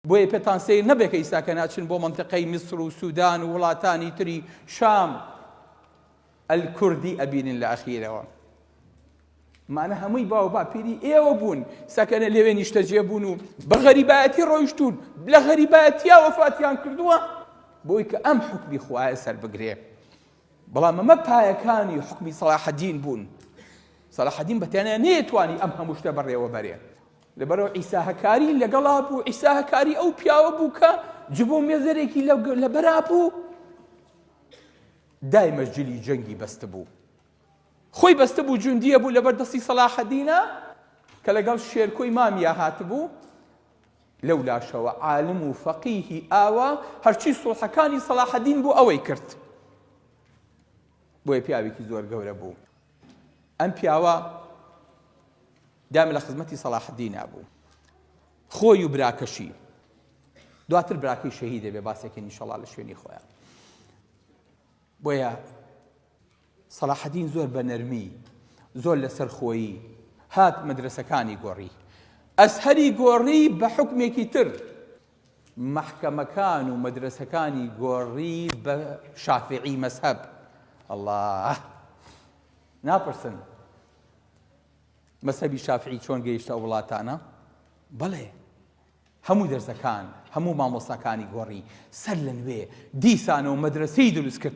بۆیە پێتان سەیر نەبێ کە ئیستا کە ناچن بۆ مەنتقەی میسر و سودان و وڵاتانی تری شام ئەلکوردی ئەبینن لە ئەخیرەوە مانە هەمووی باو باپیری ئێوە بوون سەکەنە لەوێ نیشتەجێ بوون و بە غەریبایەتی ڕۆیشتون لە غەریبایەتیا وەفاتیان کردووە بۆی کە ئەم حکمی خوایە سەر بگرێ بەڵام ئەمە پایەکانی حکمی سەڵاحەدین بوون سەڵاحەدین بەتەنیا نەیەتوانی ئەم هەموو شتە بەڕێوە بەرێ لەبەرئەوە عیسا هەکاری لەگەڵا بوو، عیسا هەکاری ئەو پیاوە بوو کە جبۆ مێزەرێکی لەبەرا بوو، دایمە جلی جەنگی بەست بوو. خۆی بەستە بوو جوندیە بوو لەبەر دەستی سەلاحەدینە کە لەگەڵ شێرکۆی مامیا هاتبوو لەو لاشەوە عالم و فەقیهی ئاوا هەرچی سوڵحەکانی سەلاحەدین بۆ ئەوەی کرد بۆیە پیاوێکی زۆر گەورە بوو ئەم پیاوە دام لە خزمەتی سەڵاحدینا بوو خۆی و براکەشی دواتر براکەی شەهی دەبێ باسێکی نیشەڵا لە شوێنی خۆیان بۆیە سەڵاحدین زۆر بە نەرمی زۆر لەسەر خۆیی هات مەدرسەکانی گۆڕی ئەسهری گۆڕی بە حکمێکی تر مەحکەمەکان و مەدرەسەکانی گۆڕی بە شافعی مەزهەب ئەڵا ناپرسن مەسەبی شافعی چۆن گەیشتە ئەو وڵاتانە بەڵێ هەموو دەرزەکان هەموو مامۆستاکانی گۆڕی سەر لە نوێ دیسانەوە مەدرسەی دروست کرد